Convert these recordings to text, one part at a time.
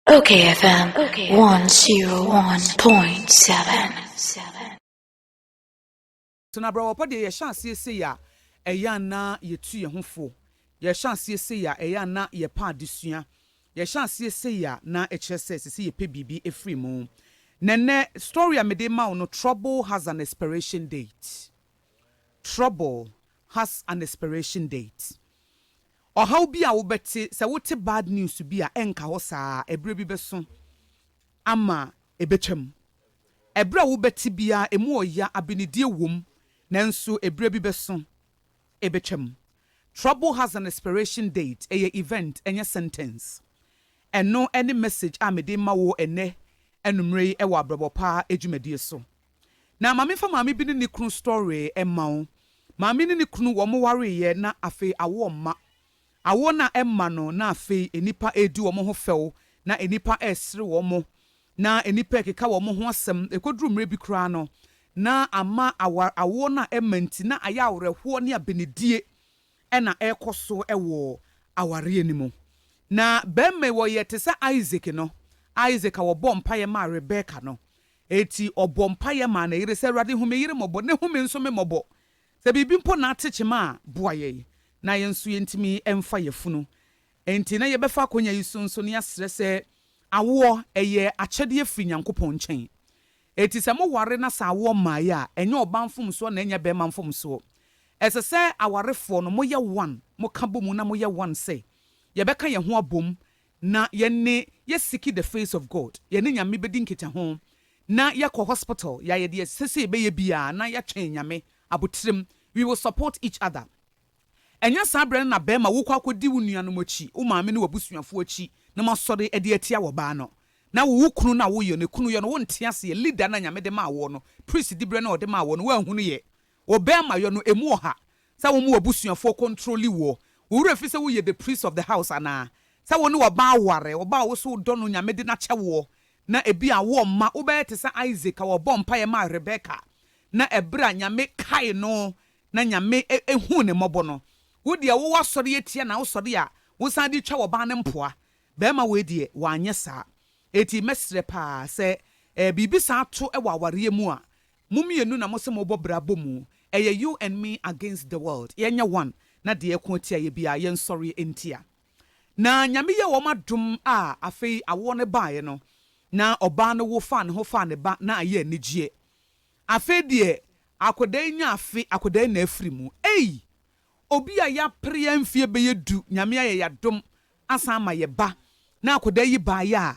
Okay FM 101.7. Tena brɛwɔpɔ deɛ yɛhyɛ aseɛ sei a ɛyɛ a na yɛtu yɛn ho fo, yɛhyɛ aseɛ sei a ɛyɛ a na yɛpɛ adesua, yɛhyɛ aseɛ sei a na ɛkyerɛ sɛ ɛsɛ sɛ yɛpɛ biribi firi mu. Na nnɛ story a mede ma wo no trouble has an expiration date. Trouble has an expiration date. Ɔhaw bi a wobɛte, Sɛ wote bad news bi a ɛnka hɔ saa a, ɛberɛ bi bɛso ama ɛbɛtwam. Ɛberɛ a wobɛte biara ɛmu ɔya, abenedie wom, nanso ɛberɛ bi bɛso ɛbɛtwam. Trouble has an expiration date, ɛyɛ event, ɛnyɛ sentence. Ɛno ne message a mede rema wo ɛnnɛ anummerɛ yi wɔ Abrabɔ Pa dwumadie so. Na ma memfa maame bi ne ne kunu story mma wo. Maame ne ne kunu wɔwareeɛ na afei awoɔ mma. Awoɔ no a ɛmma no na afei nnipa redi wɔn ho fɛw na nnipa resere wɔn na nnipa rekeka wɔn ho asɛm. Ɛkɔduru mmerɛ bi koraa no na ama awar awoɔ no a ɛmma nti na ayɛ awerɛhoɔ ne abenedie na ɛrekɔ so wɔ awareɛ no mu. Na barima yi ɔyɛ te sɛ Isaac no, Isaac a wɔbɔɔ mpaeɛ maa Rebeka no. Enti ɔbɔɔ mpaeɛ maa ne yere sɛ, Awurade, hu me yere mmɔbɔ, na hu me nso me mmɔbɔ. Sɛ biribi mpo na ate kyema a, boa yɛn, na yɛn nso yɛntumi mfa yafunu. Enti na yɛbɛfa akwannya yi so nso na yɛasrɛ sɛ, Awoɔ, ɛyɛ akyɛdeɛ firi Nyankopɔn nkyɛn. Enti sɛ moware na sɛ awoɔ mmaeɛ a, ɛnyɛ ɔbaa mfomsoɔ na ɛnyɛ barima mfomsoɔ. Ɛsɛ sɛ awarefoɔ no, moyɛ one, moka bɔ mu na moyɛ one sɛ, Yɛbɛka yɛn ho abom Na yɛne yɛ seeki the face of God, yɛne Nyame bɛdi nkitaho, na yɛkɔ hospital, yɛayɛ deɛ ɛsɛ sɛ yɛbɛyɛ biara na yɛatwɛn Nyame aboterem, we will support each other. Ɛnyɛ saa berɛ no na bɛɛma wokɔ akɔdi wo nuanom akyi, wo maame ne w'abusuafoɔ akyi na moasɔre de atia wɔ baa no. Na wo wo kunu no a woyɔ no kunu yɔ no wonte aseɛ, leader no a Nyame de maa woɔ no, priest diberɛ no a ɔde maa woɔ no woanhunu yɛ, Wo bɛɛ ma yɔ no emu wɔ ha sɛ wo mo wɔ busuafoɔ kɔntroli woɔ wo werɛ fi sɛ wo yɛ the priest of the house anaa sɛ wo ne wɔ baa ware wɔ baa wo so wo dɔ no nyame de no akyɛ woɔ na ebi a woɔ mma wo bɛyɛ te sɛ Isaac a wɔ bɔɔ mpaeɛ maa Rebecca na ɛberɛ a nyame kae no na nyame huu ne mmɔbɔ no wo deɛ wo wɔ asɔre atia na wo sɔre a wo san de twa wɔ baa no mpoa bɛɛma wei deɛ wɔ anyɛ saa eti mɛsrɛ paa sɛ biribi saa to wɔ awareɛ mu a Mo mmienu na mose mobɔ bra bɔ mu, ɛyɛ you and me against the world, yɛnyɛ one na deɛ ɛko atia yɛ biara yɛnsɔre ntia. Na Nyame yɛɛ wɔn adom a afei awoɔ no baeɛ no na ɔbaa no wo faa ne ho faa ne ba na ayɛ anigyeɛ. Afei deɛ akwadaa yi nya afe, akwadaa yi na afiri mu. Ei! Obi a yɛapere yɛn mfeɛ bɛyɛ du, Nyame ayɛ yɛn adom asan ama yɛ ba na akwadaa yi baeɛ a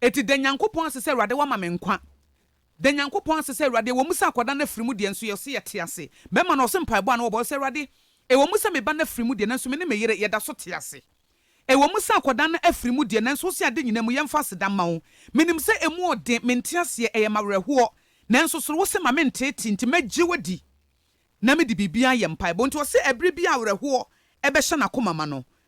Eti da Nyankopɔn ase sɛ Awurade wama me nkwa. Da Nyankopɔn ase sɛ Awurade, ɛwɔ mu sɛ akwadaa no afiri mu deɛ, nso yɛse yɛte ase. Bɛrima no, ɔse mpaebɔ a na wɔbɔ, ɔse, Awurade, ɛwɔ mu sɛ me ba no afiri mu deɛ, nanso me ne me yere, yɛda so te ase. Ɛwɔ mu sɛ akwadaa no afiri mu deɛ, nanso wose ade nyinaa mu, yɛmfa aseda mma wo. Menim sɛ ɛmu ɔden, mente aseɛ, ɛyɛ m'awerɛhoɔ. Nanso soro, wose ma menteetee, nti mɛgye wo adi, na mede biribiara ayɛ mpaebɔ. Nti ɔse ɛbere biara a awerɛhoɔ bɛhyɛ n'akoma ma no,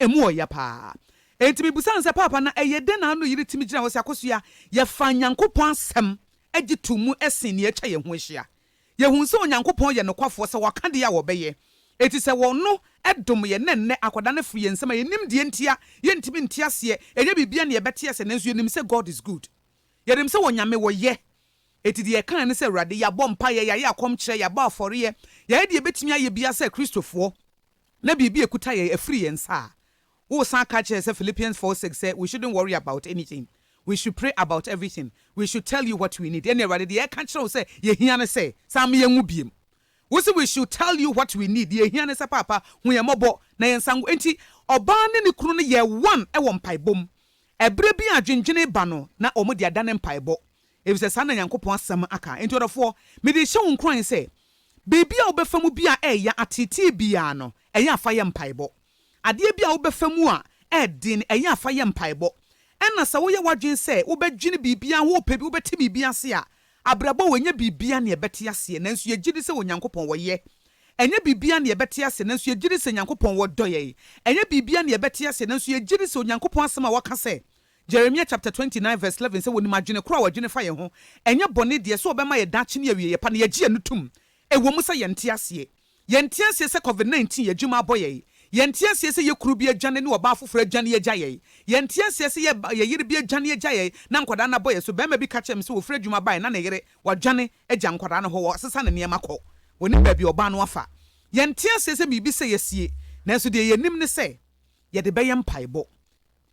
Emu wɔ ya paa. Enti mibisa no sɛ, Paapa, na ɛyɛ dɛn na ano yere tumi gyina hɔ sɛ akosua? Yɛfaa Nyankopɔn Asɛm gye too mu sen nea atwa yɛn ho ahyia. Yehuu sɛ Onyankopɔn yɛ nokwafoɔ, sɛ waka deɛ a, ɔbɛyɛ. Enti sɛ Ɔno dom yɛn na ɛnnɛ akwadaa no firi yɛn nsam a, yɛnnim deɛ enti a yɛntumi nte aseɛ, ɛnyɛ biribiara na yɛbɛte aseɛ, nanso yɛnim sɛ God is good. Yɛnim sɛ Onyame, Ɔyɛ. Enti deɛ yɛkaeɛ ne sɛ, Awurade, yɛabɔ mpaeɛ, yɛayɛ akɔmkyerɛ, yɛabɔ afɔreɛ, yɛayɛ deɛ yɛbɛtumi ayɛ biara sɛ Kristofoɔ, na biribi a ɛkuta yɛn afiri yɛn nsa a, woresan ka kyerɛ yɛn sɛ Philippians four six sɛ we shouldn't worry about anything, we should pray about everything, we should tell you what we need. Ɛnna Awurade, deɛ yɛreka kyerɛ wo sɛ yɛhia ne sɛ, san ma yɛnwu biom. Wose we should tell you what we need, deɛ yɛhia ne sɛ Paapa, hu yɛn mmɔbɔ na yɛnsan ngu. Enti ɔbaa ne ne kunu no yɛɛ one wɔ mpaebɔ mu. Ɛberɛ bi a adwendwene reba no, na wɔde adane mpaebɔ. efisɛ saa na Nyankopɔn asɛm aka. Enti ɔdɔfoɔ, mede rehyɛ wo nkuran sɛ, biribi a wobɛfa mu biara a ɛyɛ ateetee biara no, ɛyɛ a fa yɛ mpaebɔ. Adeɛ biara a wobɛfa mu a ɛyɛ den no, ɛyɛ a fa yɛ mpaebɔ. Ɛna sɛ woyɛ w'adwene sɛ wobɛdwene biribiara ho, wopɛ bi, wobɛte biribi ase a, abrabɔ wɔ, ɛnyɛ biribiara na yɛbɛte aseɛ, nanso yɛgye di sɛ Onyankopɔn wɔ yɛ. Ɛnyɛ biribiara na yɛbɛte aseɛ, nanso yɛgye di sɛ Nyankopɔn wɔ dɔ yɛn. Ɛnyɛ biribiara na yɛbɛte aseɛ, nanso yɛgye di sɛ Onyankopɔn asɛm a waka sɛ Jeremia chapter twenty nine verse eleven sɛ wɔnim adwene korɔ a wɔdwene fa yɛn ho, ɛnyɛ bɔne deɛ, sɛ ɔbɛma yɛn daakye ne awieɛ pa na yɛagye yɛn ano tom. Ɛwɔ mu sɛ yɛnte aseɛ. Yɛnte aseɛ sɛ Covid nineteen adwuma abɔ yɛn. Yɛnte aseɛ sɛ yɛn kunu bi adwane ne ɔbaa foforɔ adwane agya yɛn. Yɛnte aseɛ sɛ yɛn ba, yɛn yere bi adwane agya yɛn na nkwadaa no abɔ yɛn so. Barima bi ka kyerɛɛ me sɛ ɔfiri adwuma baeɛ na ne yere, wadwane agya nkwadaa no hɔ, wasesa ne nneɛma kɔ. Ɔnim baabi a ɔbaa no afa. Yɛnte aseɛ sɛ biribi sɛe asie, nanso deɛ yɛnim ne sɛ yɛde bɛyɛ mpaebɔ.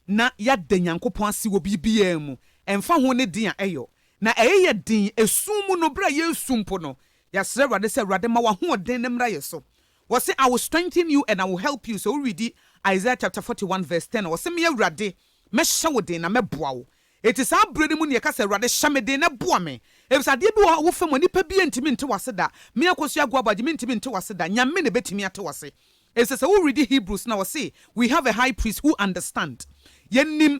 na yɛada Nyankopɔn ase wɔ biribiara mu, ɛmfa ho ne den a ɛyɔ na ɛyɛ yɛ den ɛsum mu no, berɛ a yɛresu mpo no, yɛasrɛ Awurade sɛ, Awurade ma w'ahoɔden no mmra yɛ so. Wɔse, I will strengthen you and I will help you, sɛ wo readi Isaiah chapter forty one verse ten a, ɔse, Me Awurade, mɛhyɛ wo den na mɛboa wo. Enti saa berɛ no mu na yɛka sɛ, Awurade hyɛ me den na boa me, ɛfisɛ adeɛ bi wɔ hɔ a wofam a nipa biara ntumi nte w'ase da, me Akosua Aguabɔ Agye mentumi nte w'ase da, Nyame na ɛbɛtumi ate w'ase. Ese sɛ wo readi Hebrews na ɔse we have a high priest who understand yɛnim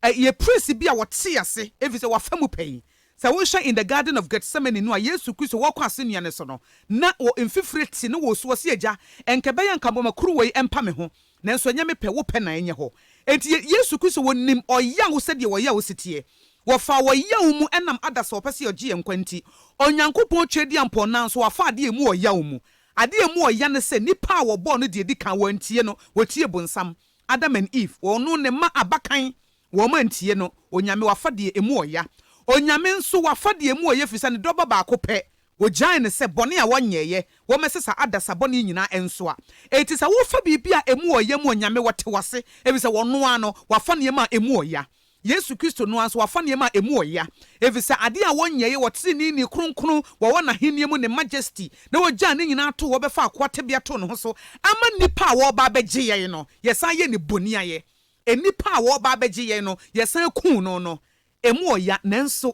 yɛ priest bi a ɔte ase efisɛ wafa mu pɛn. Sɛ wohwɛ in the garden of Gethsemane no a Yesu Kristo wɔkɔ asennua no so no na wɔ mfifire te ne wosu ɔse Agya ɛnkɛbɛyɛ anka bɔma kuruwa yi ɛmpa me ho nanso ɛnyɛ me pɛ wo pɛ na ɛnyɛ hɔ enti Yesu Kristo wɔnim ɔyaw sɛdeɛ ɔyaw si teɛ wɔfaa ɔyaw mu ɛnam adasa ɔpɛ sɛ ɔgye yɛn nkwa nti Onyankopɔn twɛdiampɔn nanso wafa adeɛ mu ɔyaw mu Ade a emu wɔ ya ne sɛ nnipa a wɔbɔɔ no deɛ ɛdi kan, wɔantie no, wɔtiee bonsam, Adam and Eve, wɔno ne mma abakan, wɔantie no, Onyame, wafa deɛ emu wɔ ya. Onyame nso, wafa deɛ emu wɔ ya ɛfiri sɛ ne dɔ ba baako pɛ, wɔgyaee no sɛ bɔne a wɔnyɛeɛ, wɔmmɛsesa adasa bɔne nyinaa ɛnsoa. Enti sɛ wofa biribi a emu wɔ ya mu a, Onyame, wɔte wo ase, ɛfiri sɛ wɔno ara no, wafa nneɛma a emu wɔ ya. Yesu Kristo no ara nso wafa nneɛma a emu wɔ ya, efisɛ ade a wɔnyɛe wɔ treneeni kronkron wɔwɔ n'ahenni mu ne majesty na wogyaa ne nyinaa too hɔ bɛfaa akoa tebea too ne ho so ama nnipa a wɔreba abɛgye yɛn no, yɛsan yɛ ne boniayɛ. Nnipa a wɔreba abɛgye yɛn no, yɛsan kum no no, emu wɔ ya, nanso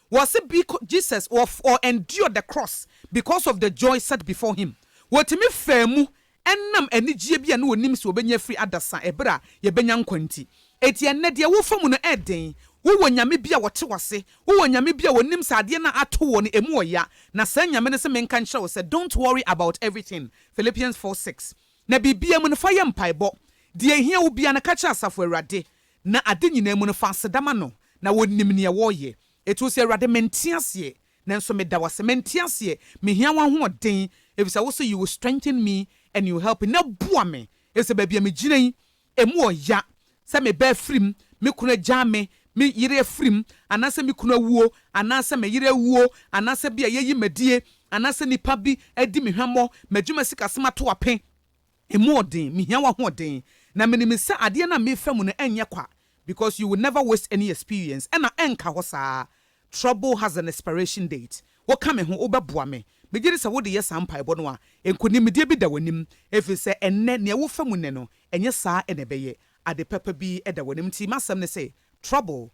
Wɔse bcause Jesus wɔf ɔ endured the cross because of the joy set before him. Wɔtumi faa mu ɛnam anigyeɛ bi a na ɔnim sɛ ɔbɛnya afiri adasa ɛberɛ a yɛbɛnya nkwa nti. Eti ɛnnɛ deɛ wofa mu no ɛɛden? Wowɔ Nyame bi a ɔte w'ase? Wowɔ Nyame bi a ɔnim sɛ adeɛ no a ato woɔ no ɛmu ɔya? Na saa Nyame no se menka nkyerɛ wo sɛ don't worry about everything, Philippians four six. Na biribiara mu no fa yɛ mpaebɔ. Deɛ ɛhia wo biara no ka kyerɛ Asafo Awurade. Na ade nyinaa mu no, fa aseda ma no, na onim nea woreyɛ. Ɛto sɛ, Awurade, mente aseɛ, nanso meda wo ase. Mente aseɛ, mehia w'ahoɔden, ɛfiri sɛ wo se, You will strengthen me and you help me, na boa me, ɛfiri sɛ baabi a megyina yi, ɛmu wɔ ya, sɛ me ba afirim, me kunu agyaa me, me yere afirim, anaasɛ me kunu awuo, anaasɛ me yere awuo, anaasɛ bi a yɛayi m'adie, anaasɛ nnipa bi adi me hwammɔ, m'adwuma sikasɛm ato ape, Emu wɔ den, mehia w'ahoɔden. Na menim sɛ adeɛ no a merefa mu no ɛnyɛ kwa because you will never waste any experience ɛna ɛnka hɔ saa Trouble has an expiration date Woka me ho, wobɛboa me Megye di sɛ wode yɛ saa mpaebɔ no a, nkonimdie bi da w'anim Ɛfiri sɛ ɛnnɛ, nea wofa mu nnɛ no ɛnyɛ saa na ɛbɛyɛ Ade papa bi da w'anim Nti m'asɛm ne sɛ, Trouble